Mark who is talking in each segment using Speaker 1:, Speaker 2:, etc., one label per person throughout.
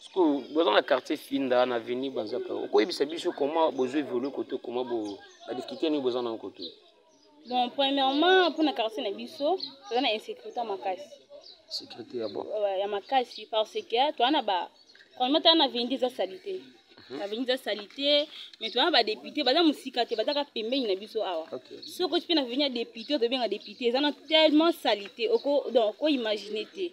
Speaker 1: sikoyo boza na quartier finda na avenue banzaka okoyebisa biso comment bozo évolue koto comment bo ba difficulté nini boza nango koto bon
Speaker 2: premièrement mpona quartier na biso toza na insécurité makasi sécurité ya
Speaker 1: bon ya makasi
Speaker 2: parce que toza na ba premièrement toza na vendi eza salite Mhm. avenue eza salite mais toza ba député baza mosika te baza kaka pembeni na biso awa soki oti mpe na veni ya député ozobenga député eza na tellement salite oko donc okoimagine te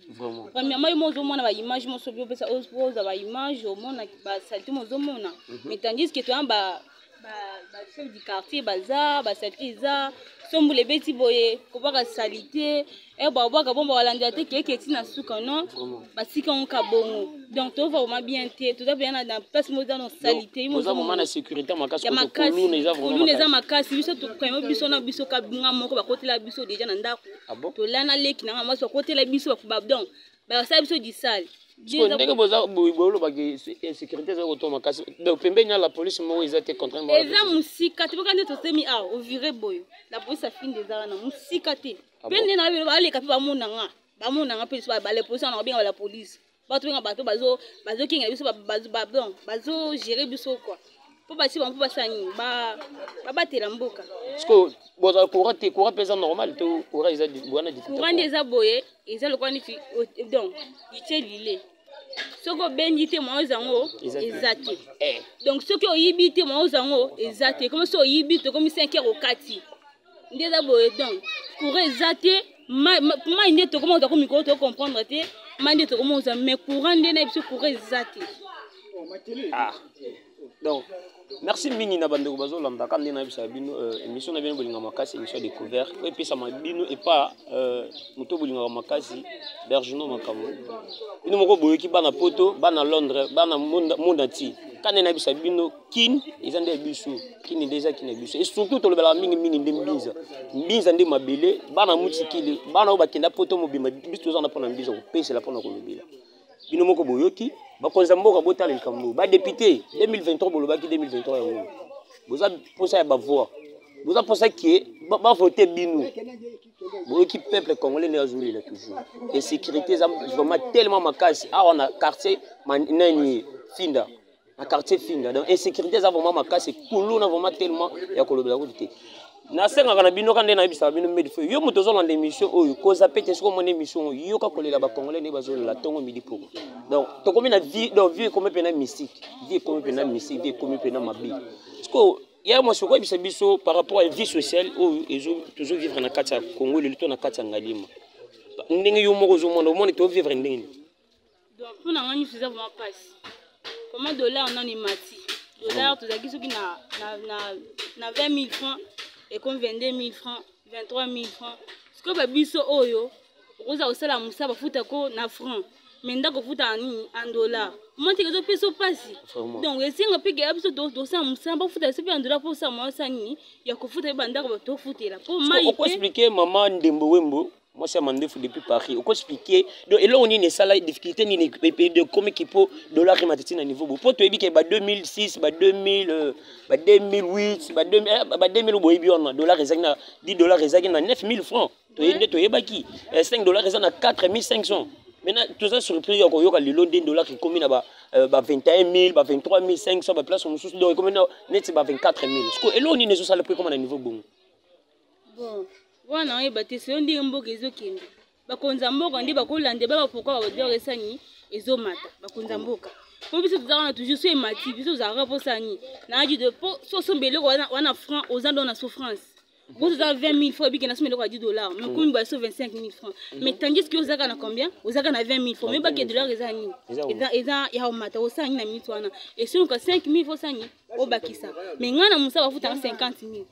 Speaker 2: premièrement yo mo
Speaker 1: ozomona
Speaker 2: baimage moso biopesa oza baimage omona basalite mo ozomona mhm. mais tandis que toza ba ba chef du quartier baza basati eza sombula ebeti boye kobaka salite e babwaka bongo balandela te keke ti na suka non basika yango ka bongo donc tova vraimen bien te toza mpenza na place moko eza na salite
Speaker 1: yamakasikuluna eza
Speaker 2: makasi biso tokaimo biso na biso kabinga moko bakotela biso deja na ndako ah tolana leki nanga mwasi bakotela biso donc bakosala biso disale ndenge
Speaker 1: bolobaki insécurité eza kotoma makasi donc pembeni ya la police moko eza te contrairement eza mosika te boka
Speaker 2: nde tosemi awa ovire boye la police afinde eza wana mosika te ah mpe nde nayo baleka mpe bamona nga bamona nga mpe liso bala police wana babenga la police bato benga bato bazokengela biso bazogere biso kua mpo basi bango mpo basala nini babatela mboka sikoyo
Speaker 1: bozala courant te courant mpe eza normal to courant eza wana courant nde eza boye
Speaker 2: eza lokola neti donc itie lile soki obendi te mwa oza yango eza te eh. donc soki oyibi te mwa oza yango eza te komi soki oyibi tokomi 5 heure okati nde eza boye donc courant eza te mai nde tokomi oza ko mikolo to comprendre te mai nde tokomi oza mais courant nde na biso courant eza te ah.
Speaker 1: donc merci mingi na bandeko bazolanda kaka nde nayebisaka bino euh, émission na bino bolinga makasi émission ya découverte oyo epesama bino epa euh, moto bolingaka makasi bergino makambo bino moko boyoki bana poto bana londres bana monde entier ka nde nayebisa bino kin eza nde ya biso kini nde eza kini ya biso e surtout tolobelaka mingi mingi nde mbinza mbinza nde mabele bana mutikili bana oyo bakenda poto mobimba biso toza na mpona mbinza kopesela mpona kolobela bino moko boyoki bakonzi ya mboka botala likambo badepute 2023 bolobaki 2023 yango boza mposa ya bavoi boza mposa ke bavote bino boyoki peuple congolais nde azolela toujours insécurité eza vraiment tellement makasi awa na quartier nani finda na quartier finga donc insécurité eza vraiment makasi kuluna vraiment tellement ya kolobela kutu te nasengaka na bino ka nde nayebisaka bino medi fo yo moto ozolanda émission oyo koza pe te soki omona émission oyo yoka kolela bacongolais nde bazolela ntongo midi poko donc tokomi na vie donc vie ekomi mpena mystique vie ekomi mpena mystique vie ekomi mpena mabe sikoyo ya mwasi okoyebisa biso par rapport ya vie sociale oyo tozovivre na kati ya congo lelo to na kati ya ngalima ndenge yo moko ozomona omoni tovivre ndenge nini donc mpo
Speaker 2: na ngai nyonso eza vraimen mpasi koma dollar nani mati dollar mm. tozalaki soki na, na, na, na 20 000 franc ekomi 22 000 franc 23 000 franc sikoyo babiso oyo okozala kosala mosala bafuta ko na franc me ndako ofuta na nini en dollar omotiki ezopesa mpasi donc esenga mpe keya biso tosala mosala bafuta biso mpe en dollar mpo osala mwa osala nini ya kofuta mpe bandako tofutela mpo mai okoexplike mama
Speaker 1: ndembo wembo mwasi ya mandefu depuis paris oko explike donc eloko nini esala difficulté nini ekomiki mpo dollar emata ti na niveau bo mpo toyebi ke ba 2006 ba 2000 euh, ba 2008 ba 2000 eh, boyebi wana dollar ezalaki na 10 dollar ezalaki na 9000 francs toyebi nde toyebaki 5 eh, dollar eza na 4500 maintenant toza surpris ya koyoka lelo nde dollar ekomi na ba 21000 ba 23500 baplace mosusu donc ekomi neti ba 24000 siko eloko nini ezosala mpo ekoma na niveau bongo
Speaker 2: bon wana oyeba te soyo ndenge mboka ezokende bakonzi ya mboka nde bakolanda baba pourkui babador esani ezomata bakonzi ya mboka po biso toza wana toujours so emati biso tozalaka mposani na adi de po so osomba eloko wana franc oza ndo na souffrance bozo za 20 000 francs bikena somo eloko ya 10 dollars mais komi baso 25 000 francs mais tandis que ozaka na combien ozaka na 20 000 francs mais baki dollars eza nini eza eza ya omata osala nini na minute wana esonoka 5 000 francs osani obakisa mais ngai na mosala bafutaka 50 000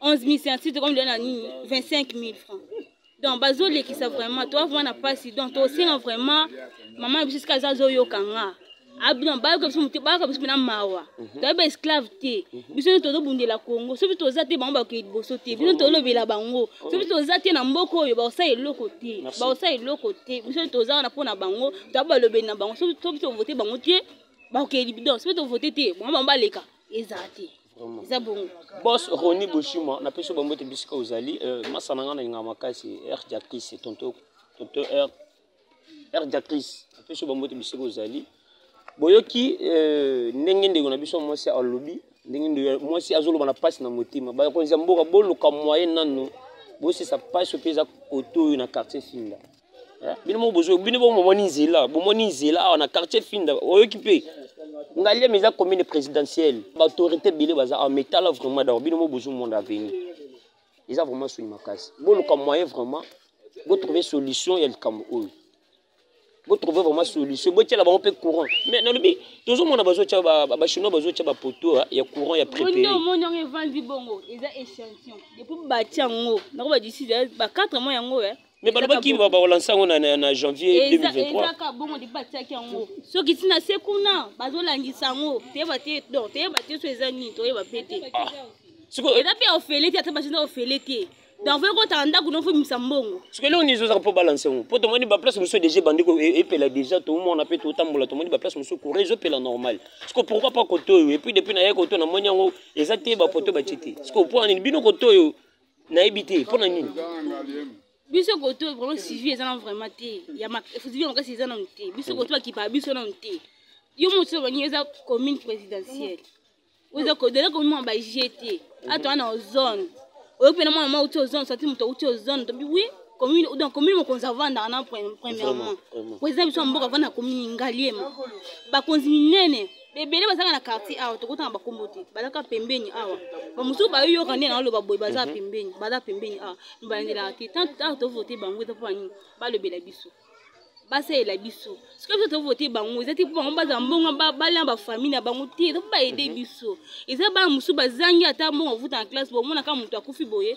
Speaker 2: 11000 scientifique comme dona nini 25000 francs donc bazolekisa vraiment toa vraiment na mpasi donc tosenga vraiment mama na biso esika aza azoyoka nga abino bayoka biso mote bayoka biso mpena mawa mhm. toyebi ba esclave te mhm. biso nde tozobundela congo soki toza te bango bakokei liboso te bino tolobela bango mhm. soki toza te na mboka oyo bakosala eloko te bakosala eloko te biso nde toza wana mpo na bango toyebi balobeli na bango soki tovote bango te bakokei libido soki tovote te bango bango baleka ezala te eza bongo bos roni
Speaker 1: boshima napesi bango ete bisika ozali euh, masa na ngai nalingaka makasi r jacris tonto tonto r r jacris napesi bango ete bisika ozali boyoki euh, ndenge ndeko na biso mwasi alobi ndenge ndeko mwasi azoloba na mpasi na motema bakonzi ya mboka boluka moyen nano bosisa mpasi mpe eza koto oyo na quartier finda Eh, bino moko bozo bino moko bomoni nzela bomoni nzela awa na quartier finda oyoki mpe ngaliema eza commune présidentielle baautorité ebele baza awa mais tala vraiment dao bino moko bozomona aveni eza vraiment soni makasi boluka moyen vraiment botrouve solution ya likambo oyo botrouve vraiment solution botyela bango mpe courant mais nalobi tozomona bazotya bachinois bazotya bapoto ah, ya courant ya préféré omoni yango evandi
Speaker 2: bongo eza échantillon depuis batya yango nako badiside ba 4 mois yango eh. me balobaki
Speaker 1: bakolansa yango na janvier 2023
Speaker 2: soki ntina se kuna bazolangisa yango toyeba te don toyeba te so eza nini toyeba mpe te ah. eza
Speaker 1: mpe ofele te
Speaker 2: ata basinda ofele te donc fo ekotaka ndako no fobimisa mbongo soki eloko nini ezozaka mpo
Speaker 1: balanse yango mpo tomoni baplace mosusu deja ebandi e-, epela deja tomona mpe totambola tomoni baplace mosusu courant ezopela normal siko pourkoi pas kotoyo epuis depuis naye kotoyo namoni yango eza te bapoto batie te siko mpo anini bino kotoyo nayebi te mpo na nini biso
Speaker 2: koto vraiment suivi eza na vraiment te suivi ya makasi eza nanu te biso koto bakipaka biso nanu te yo moto obani eza commune présidentielle oza kodela komima ba gt ato wana ozone oyo mpe na mwana mwa uti ozone sati moto auti ozone tobi wi commune donc commune mokonzi avandaka na premièrement président biso ya mboka avandaka commune ngaliema bakonzi minene ebele bazanga na quartier awa tokotanga bakombo te bazaka pembeni awa bamosusu bayoyoka nde naoloba boye baza mhm. pembeni baza pembeni awa balandelaka te tant tovote bango eza mpo banini balobela biso basalela biso soki biso tovote bango eza te mpo bango bazala mbongo balya bafamille na bango te eza mpo baede mhm. biso eza bana mosusu bazangi ata mbongo avuta na classe bomonaka moto akufi boye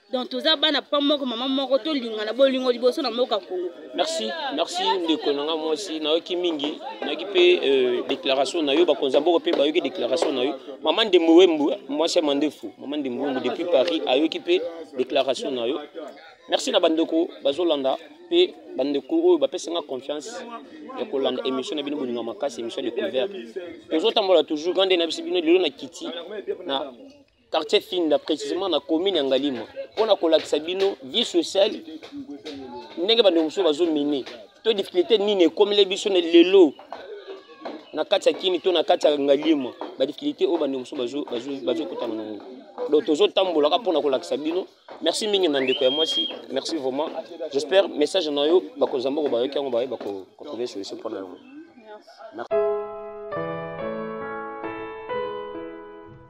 Speaker 2: donc toza bana papa moko mama moko tolingana bolingo liboso na mboka kongo merci merci
Speaker 1: ndeko na ngai mwasi nayoki mingi nayoki mpe euh, déclaration na yo bakonzi ya mboka mpe bayoki déclaration na yo mama ndembo wembu mwasi ya mandefu mama ndembo wembu depuis paris ayoki mpe déclaration na yo merci na bandeko bazolanda mpe bandeko oyo bapesi nga confiance ya kolanda émission na bino bolinga makasi émission découverte tozotambola toujours grande na bisi bino lelo na kiti na quartier finda précisément na commune ya ngalima mpo na kolakisa bino vie sociale ndenge bandeko mosusu bazomine to difficulté nini ekomeli biso na lelo na kati ya kini to na kati ya ngalima badifficulté oyo bandeko mosusu bazokutana na yango donc tozotambolaka mpo na kolakisa bino merci mingi na ndeko ya mwasi merci vraiment j'espère message na yo bakonzi ya mboka bayoki yango baye bakotrouve solution mpo na yango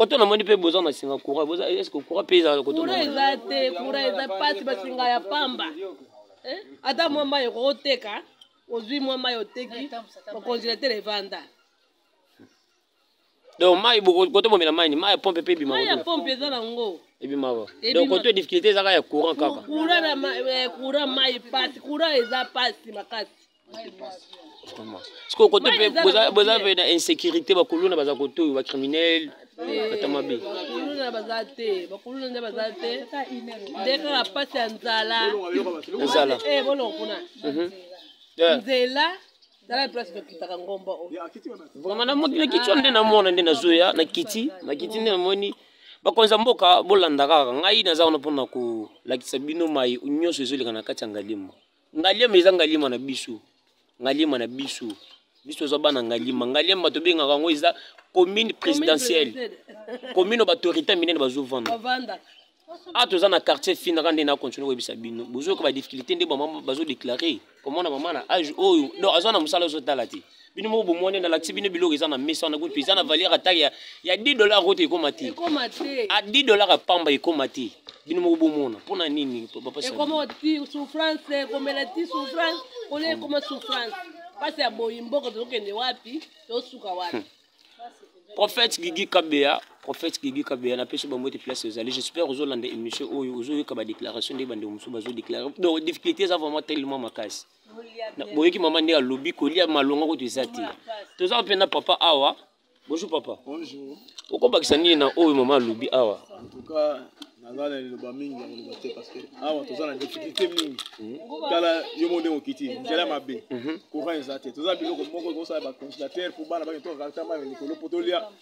Speaker 1: koto namoni mpe boza na singa courant boza eske courant mpe ezalaka koto courant eza te
Speaker 3: courant eza mpasi basinga ya pamba eh? ata mwa mai ekokoteka ozwi mwa mai oteki okongelatele evanda
Speaker 1: donc mai kote bomela mai ni mai ya pompe mpe ebima mai ya pompe eza nango
Speaker 3: ebimaka
Speaker 1: donc kote difficulté ezaka ya courant kaka courant eh,
Speaker 3: mai pasi courant eza pasi makasi
Speaker 1: sikoyo kote mpe boza mpe na insécurité bakuluna baza kotoyo bacriminele ata mabe bakuluna baza
Speaker 3: te bakuluna nde baza te nde kaka mpasi ya nzala nzala
Speaker 1: eh, bolongo
Speaker 3: kuna mhm. nzela tala place tokitaka ngomba oyo vraiment
Speaker 1: nakiti wana nde namona nde nazoya nakiti nakiti nde namoni bakonzi ya mboka bolanda kaka ngai naza wana mpona kolakisa bino mai nyonso ezoleka na kati ya ngalimo ngaliema eza ngaliema na biso ngaliema na biso biso toza bana ngaliema ngaliema tobengaka yango eza commune présidentielle commune oyo batorité minene bazovanda awa toza na quartier fina kaka nde nakontinue koyebisa bino bozoyoka badifficulté nde bazodeklare komona mama na age oyo donc aza na mosala ozotala te bino moko bomoni nalakisi bino biloko eza na mesa wana kutu eza na valeur ata ya 10 dollar oyo te ekoma te a 10 dollar ya pamba ekoma te bino moko bomona mpo na nini ekoma ti souffrance
Speaker 3: ekomela ti souffrance olie ekoma souffrance mpasi ya boyi mboka tozokende wapi tosuka wapi hmm.
Speaker 1: prophète gigi kabeya prophète gigi kabeya napesi bango ete place ezali j'espère ozolanda émission oyo ozoyoka badéclaration nde bandeko mosusu bazodeklare donc difficulté eza vraiment tellement makasi boyoki mama ndenge alobi kolia malonga kutu eza te toza mpe na papa awa bonjour papa bonjour
Speaker 4: okobakisa nini
Speaker 1: na oyo mama alobi awa naza
Speaker 4: na liloba mingi ya koloba te parce que awa toza na difficulté mingi mhm. tala yo mo ndenge okiti nzela mabe mhm. courant eza te toza biloko moko ekosala baconsilateur mpo bana bake tokakartama likolo mpo tolia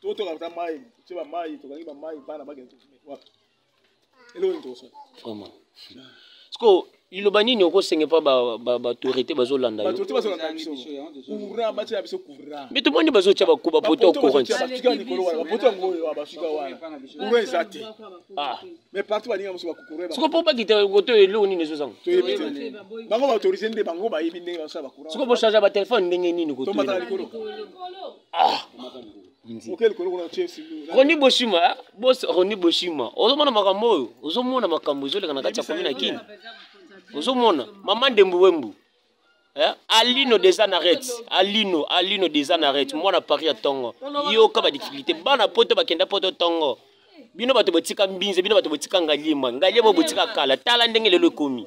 Speaker 4: totoka ata mai ce bamai tokangi bamai bana bakende wapi eloko nini tokosala vraiment
Speaker 1: sikoyo liloba nini okosenge mpo baautorité bazolanda biso me tomoni bazotya bakuba poto courant soko mpo bakita koto eloko nini ezozanga soko bocharge batelefone ndenge nini koto ah. roni boshima eh? bos roni boshima ozomona makambo oyo ozomona makambo ezoleka na kati ya komi na kini ozomona mama ndembu wembu Eh? alino des anaret alino alino des anaret mwana paris ya tongo yoka badifficulté bana poto bakenda poto tongo bino bato botika mbinze bino bato botika ngalima ngalima botika kala tala ndenge lelo ekomi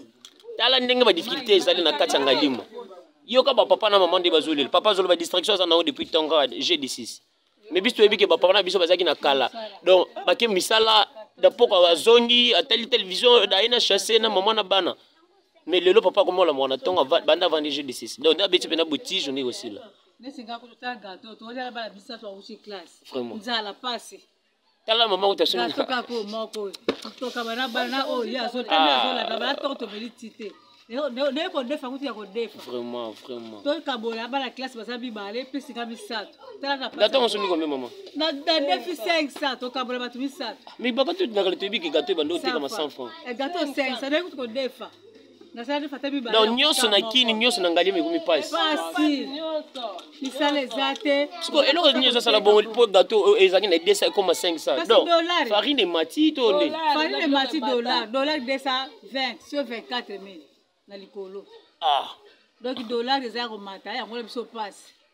Speaker 1: tala ndenge badifficulté ezali na kati ya ngalima yoka ba papa na maman nde bazolela papa azoloba distraction aza nango depuis temps kaka je disis mais biso toyebi ke bapapa na biso bazalaki na kala donc bake misala dapoko azongi atali television aye na chasse na mama na bana mais lelo papa akomola mwana ntongo banda avandi je disis donc nde abeti mpena botige ndenge osila
Speaker 3: vraiment tala mama
Speaker 1: uta soki toka ko moko
Speaker 3: toka bana bana o ya so tala so la bana to to beli tite ne ko defa kuti ya ko defa vraiment vraiment
Speaker 1: to ka bola
Speaker 3: bana classe baza bi bale pesi ka misato tala na pasi dato nsomi
Speaker 1: kombe mama na na defi
Speaker 3: 500 to ka bola batu misato mi baka tu na kale
Speaker 1: to bi ke gato bando te kama 100 francs gato 500 ne
Speaker 3: ko defa nasalaki fata mibale donc nyonso na kini nyonso
Speaker 1: na ngalima ekomi mpasi mpasi
Speaker 3: misala eza te siko eloko nini
Speaker 1: ezosala bongo mpo gato oyo ezalaki na 200 ekoma 500 donc farine emati to nde farine emati dollar
Speaker 3: dollar 220 sur 24 mille na likolo ah donc dollar eza ya komata yango na biso mpasi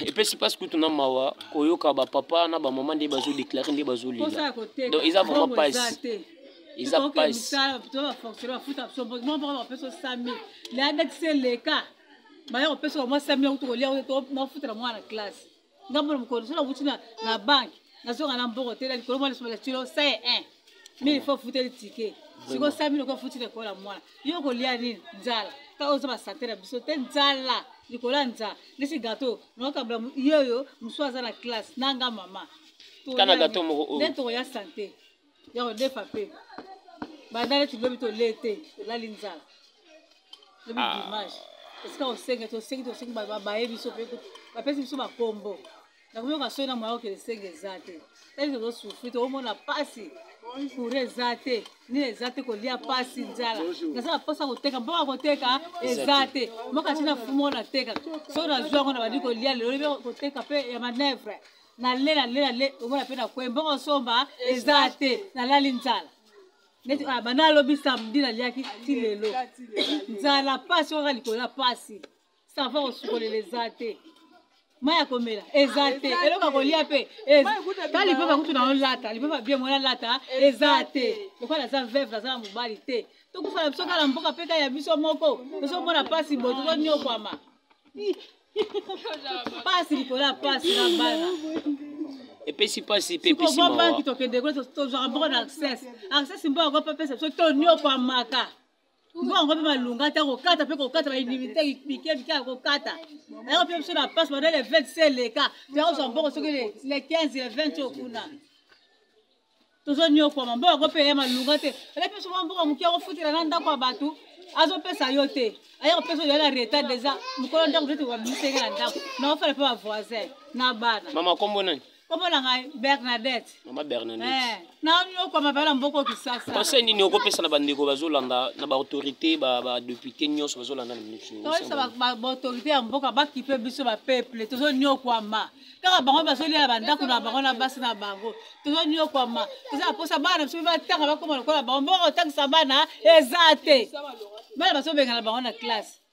Speaker 1: epesi mpasi kutu na mawa koyoka bapapa na bamama nde bazodeklare nde bazolela donc eza vraiment mpasi eza
Speaker 3: mpasiadatiseleka baya kopesa bamwa sami yakutu kolia nafutela mwana classe ngambo na mokolo so nakuti na banke nazoka na mbongo te na likolo mwa lisolo ya tilo sai 1 mais il faut afuteli tike sikoyo sa milo kofuti likolo ya mwana yo kolia nini nzala ta oza basante na biso te nzala likolo ya nzala ndesi gato nokabla yeyo mosusu aza na classe nanga mama kana gato
Speaker 1: moko oyo nde tokoya sante
Speaker 3: ya kodefa mpe bandale tilobi tolee te tolali nzala lobi ah. dimanche esika osengi tosengi tosengi baye biso mpe bapesi biso bakombo nakoyoka soki na moya okende senge eza te ete tozosufri tokomona mpasi kura eza te nini eza te kolia mpasi nzala nazala mposa koteka mboka koteka eza te mboka ntina fumo nateka soki nazwi yango na bandi kolia lelo libe koteka mpe ya manevre nale nale nale omona mpe nakwe mboka osomba eza te nalali nzala neti ah, bana alobi samedi naliaki ti lelo nzala mpasi okaka likolo ya mpasi sava kosukolela eza te mai ya komela eza te eloko ya kolia mpe ta lipapa kutu na olata lipapa bie mwana lata eza te lokola aza veve aza na mobali te tokufa na biso kala mboka mpe kaka ya biso moko tozomona mpasi boye tozonyokwama mpasi likolo ya mpasi na bana
Speaker 1: epesi mpasi mpe epesi mawa banki tokende kuna
Speaker 3: tozwaka moko na access access mpo yango mpe apesa biso tonyokwamaka mpo yango mpe malunga te kokata mpe kokata bainimite mike mike ya kokata yango mpe biso na pasi banda le 20 se eleka toyakozwa mbongo soki le 15 le 20 oyo kuna tozonyokwama mbongo yango mpe ya malunga te ela mpe soki mbongo moke akofutela na ndako ya bato azopesa yo te aya kopesa oyo yala retard deja mokolo ndako tete wabisenge na ndako na ofala mpe bavoisin na bana mama kombo nani
Speaker 1: kombo na ngai
Speaker 3: bernadette mama bernadette
Speaker 1: eh, nayokwama
Speaker 3: bala mboko kisasa conseil nini okopesa na
Speaker 1: bandeko bazolanda na baautorité badepute nyonso bazolanda na minitoyesa baautorité
Speaker 3: ya mboka bakipe biso bapeuple tozoniokwama kaka bango bazolia bandako na bango na basi na bango tozoniokwama toza na mposa bana biso batanga bakoma lokola bango mboko otangisa bana eza te bana bazobengana bango na classe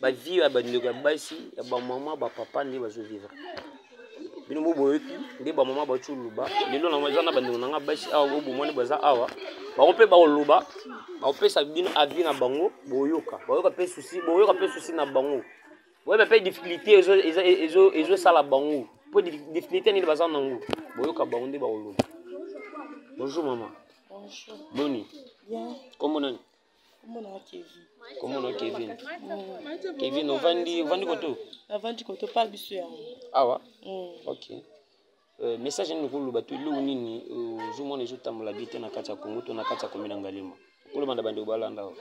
Speaker 1: ba vie ya bandeko ya basi ya bamama bapapa nde bazovivre bino bo boyoki nde bamama bauti koloba lelo na eza na bandeko na ngai basi awa bobomani baza awa bango mpe bakoloba bakopesa bino avis na bango boyoka boyoka mpe susi boyoka mpe susi na bango boyeba mpe difficulté ezosala bango mpo difficulté nini baza nango boyoka bango nde bakoloba bonjour mama boni kombo
Speaker 5: nani komona
Speaker 1: kevin kevin ovandi ovandi koto navandi koto pa
Speaker 5: biso yango awa
Speaker 1: mm. ok euh, message nini okoloba to eloko nini euh, ozomona ezotambola bi te na kati ya kongo to na kati ya komina ngalema okoloba na bandeko balanda awa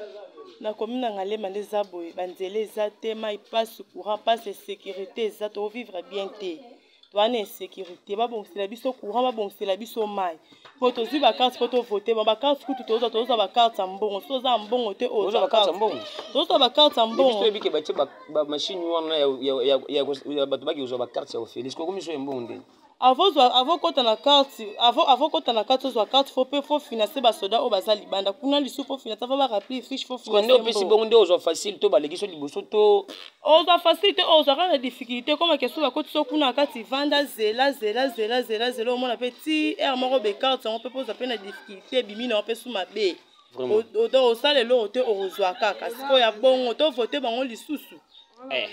Speaker 1: na komina
Speaker 5: ngalema nde eza boye banzela eza te mai mpasi courant mpasi insécurité eza tovivre bien te toa na insécurité babongisela biso courant babongisela biso mai po tozwi bacarte po tovote ma bacarte kutu tozwa tozwa bacarte ya mbongo so toza ya mbongo te oyo
Speaker 1: tozwa bacarte ya
Speaker 5: mbongoyebike batie
Speaker 1: bamashine wana ya bato baki kozwa bacarte ya ofélix kokomi so ya mbongo ndeni
Speaker 5: avokota na karte avokota na karte ozwa karte fo mpe fo finance basoda oyo baza libanda kuna lisu fo finance ava barappli fiche fo financeopesi bongo nde ozwa
Speaker 1: facile to baleki so liboso to ozwa facilité
Speaker 5: oyo ozwa kaka difficulté koma ke soki akotisa kuna kati vanda zela zela zela zela zela omona mpe ti aire moko bekarte yango mpe mpo ozwa mpe na difficulté ebimi na yango mpe su mabe osala eloko te okozwa kaka sikoyo ya bongo tovote bango lisusu eh.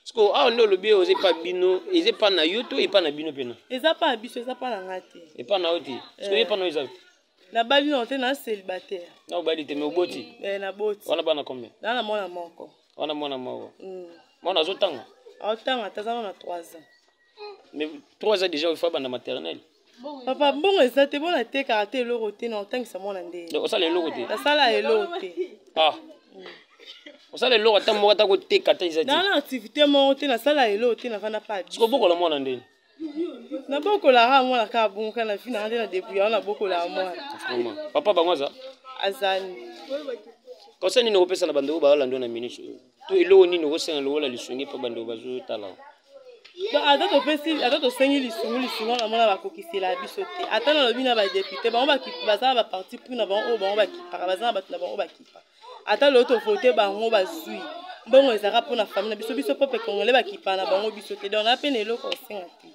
Speaker 1: sikoyo awa nde olobi oza epa bino eza epa na yo to epa na bino mpena eza mpa na biso eza mpa
Speaker 5: na ngai te epa na yo te
Speaker 1: sikoyo eh. epa na yo eza te nabali nao te
Speaker 5: na célibataire na obali te me
Speaker 1: oboti eh, naboti wana bana
Speaker 5: combien na
Speaker 1: na mwana moko
Speaker 5: wana mwana moko
Speaker 1: mm. mwana azotanga aotanga ata aza
Speaker 5: na 3 ans mais
Speaker 1: 3 ans déjà ofa banda maternelle papa mbongo
Speaker 5: eza te mpo natekaka te eloko te na otangisa mwana nde osala eloko te nasala
Speaker 1: eloko te
Speaker 5: ah mm.
Speaker 1: osala eloko ata moko ata koteka ata eza te na na activité moko
Speaker 5: te nasala eloko te nafanda pa sikobokola mwana ndeni
Speaker 1: nabokolaka
Speaker 5: mwana kaka bongo kaka na vi nanga nde na debouya wana nabokolaka mwana papa bango
Speaker 1: aza azali conseil nini okopesa na bandeko baolanda na minute oyo to eloko nini okosenga lokola lisungi mpo bandeko bazotala ata topesi
Speaker 5: ata tosengi lisungu lisungu wana mona bakokisela biso te ata nalobi na badepute bango baza na baparti pris na bango oyo bango bakipaka baza na bato na bango bakipaka ata lelo tovote bango bazwi mbongo ezalaka mpo na fami na biso biso pepe congolais bakipa na bango biso te donc na mpe na eloko osenga te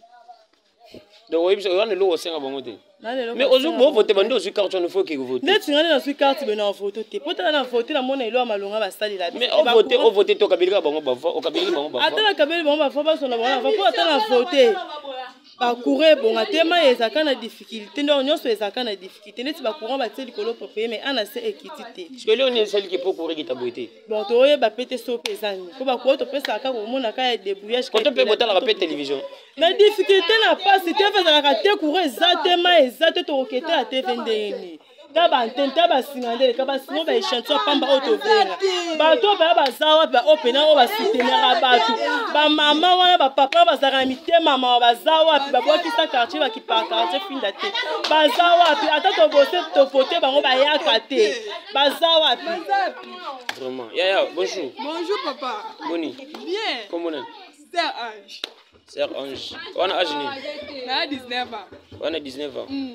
Speaker 1: donc oyebi biso wana eloko osenga bango te mais ozwi bovote bandi ozwi carte wana fo okeke vote ndeti ngani nazwi carte
Speaker 5: bino na vote te mpo tala na vote namona elo ya malonga basalela mais ovote ovote
Speaker 1: te okabelika bango bavoi okabeliki bango bavoi ata nakabeli bango bavoi
Speaker 5: bazwa na bango na voi mpo ata na vote bacourant ebonga te mai ezalaka na difficulté ndoko nyonso ezalaka na difficulté ndeti bacourant batie likolo propeye mai ana se ekiti te sikoli oni esaliki mpo
Speaker 1: courant ekita boye te bon toyeba mpe te
Speaker 5: so mpe eza nini mpo bacourant topesaka kaka komona kaka ya debrouillage koto mpe botalaka mpe
Speaker 1: télévision na difficulté
Speaker 5: na mpasi tv ezalaka te courant eza te mai eza te tokoketela tv ndenge nini ta bantene ta basinga nde eleka basinga ba echantion ya pamba oyo tobenga bato oyo baya baza wapi baoyo mpena oyo basoutenaka bato bamama wana bapapa wana bazalaka na mitema mawa baza wapi babwakisa quartier bakipaka quartier finda te baza wapi ata tobose tovote bango bayaka te baza wapi vraiment
Speaker 1: yaya bonjour bonjour papa
Speaker 6: boni
Speaker 1: bien kombo nani sœur
Speaker 6: ange sœur ange
Speaker 1: wana age nini na 19 ans
Speaker 6: wana 19 ans mm.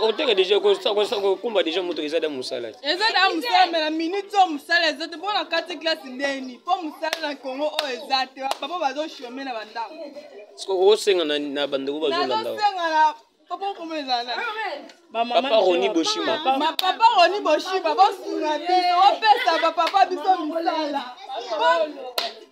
Speaker 6: koteka
Speaker 1: deja kokumba deja moto eza da mosala te eza da mosala me
Speaker 6: na minute oyo mosala eza te mpo na kati classe ndeni mpo mosala na congo oyo eza te bapapa bazoshome na bandako okosenga
Speaker 1: na bandeko bazolanda papa
Speaker 6: okoma ezala papa
Speaker 1: roni boshima papa roni
Speaker 6: boshima bosunga biso opesa bapapa biso misala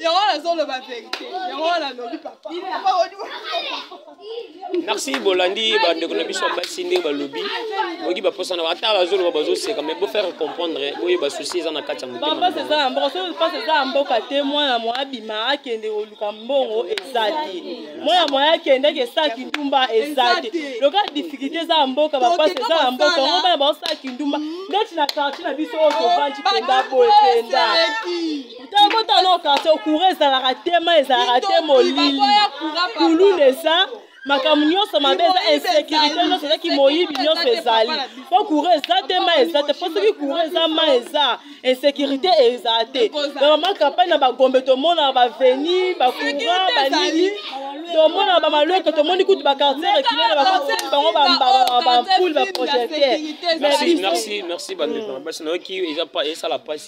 Speaker 6: yango wana azoloba verité yango wana
Speaker 1: alobi papa merci bolandi bandeko na biso ya basi ndenge balobi boki baposa na ata bazoloba bazoseka mais bofaire comprendre boyeba souci eza na kati ya motemampasi eza ya mboka soki mpasi
Speaker 5: eza ya mboka te mwana mwa abima akende koluka mbongo eza te mwana mwa akende akesala kindumba eza te loka difficulté eza ya mboka bapasi eza ya mboka yango bana baosala kindumba ndeti na quartier na biso oyo tovandi mpenza boye mpenza tobota no karte okura ezalaka te ma ezalaka te molili kululu eza makambo nyonso mabe eza insécurité nyonso ezaki moyibi nyonso ezali mpo kura eza te ma eza te mpo soki kura eza ma eza insécurité eza te bamama kampagne na bagombe tomonaka baveni bakura banini tomona bamalweke tomoni kutu bakartier rekile na bakoteli bango bampule baprojecteur merci merci
Speaker 1: merci bandeko na basi nayoki eza esala mpasi